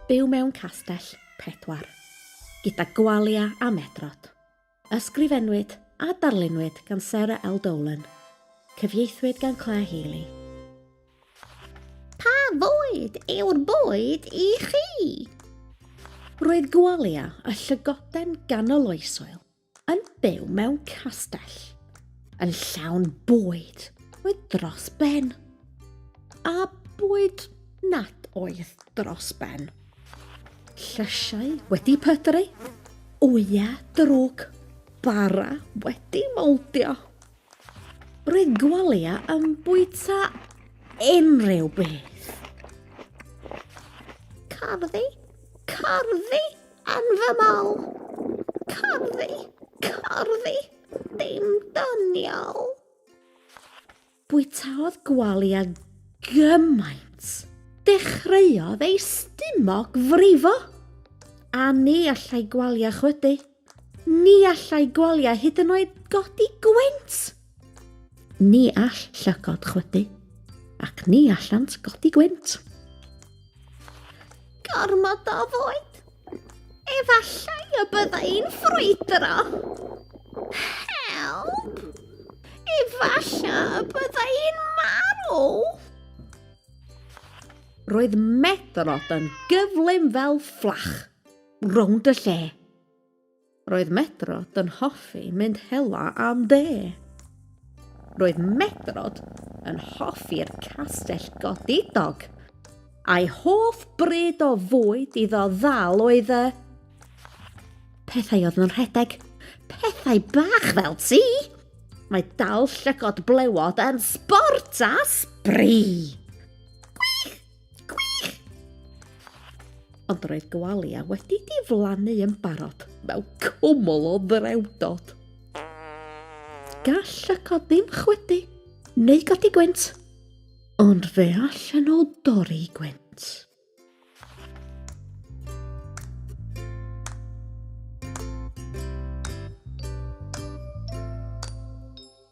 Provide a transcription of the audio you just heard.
Byw mewn castell pedwar, gyda gwalia a medrod. Ysgrifennwyd a darlunwyd gan Sarah L. Dolan. Cyfieithwyd gan Claire Healy. Pa fwyd yw'r bwyd i chi? Roedd gwalia a llygoden ganoloesol yn byw mewn castell, yn llawn bwyd oedd dros ben, a bwyd nad oedd dros ben. Llysiau wedi pydru, wyau drwg, bara wedi moldio. Roedd gwalia yn bwyta unrhyw beth. Carddi, carddi, Yn fy mol. Corddi, corddi, dim doniol. Bwytaodd Gwalia gymaint, dechreuodd ei stumog frifo. A ni allai Gwalia chwydu. Ni allai Gwalia hyd yn oed godi gwent! Ni all llygod chwydu, ac ni allant godi gwynt. Gormod o fwyd! Efallai y byddai'n ffrwydro. Help! Efallai y byddai'n marw! Roedd Medrod yn gyflym fel fflach, rownd y lle. Roedd Medrod yn hoffi mynd hela am de. Roedd Medrod yn hoffi'r castell godidog. A'i hoff bryd o fwyd iddo ddal oedd y... Pethau oedd yn rhedeg. Pethau bach fel ti. Mae dal llygod blewod yn sbort a sbri. Gwych! Gwych! Ond roedd gwalia wedi diflannu yn barod mewn cwmwl o ddrewdod. Gall y cod ddim chwydu neu godi gwynt, ond fe allan nhw dorri gwynt.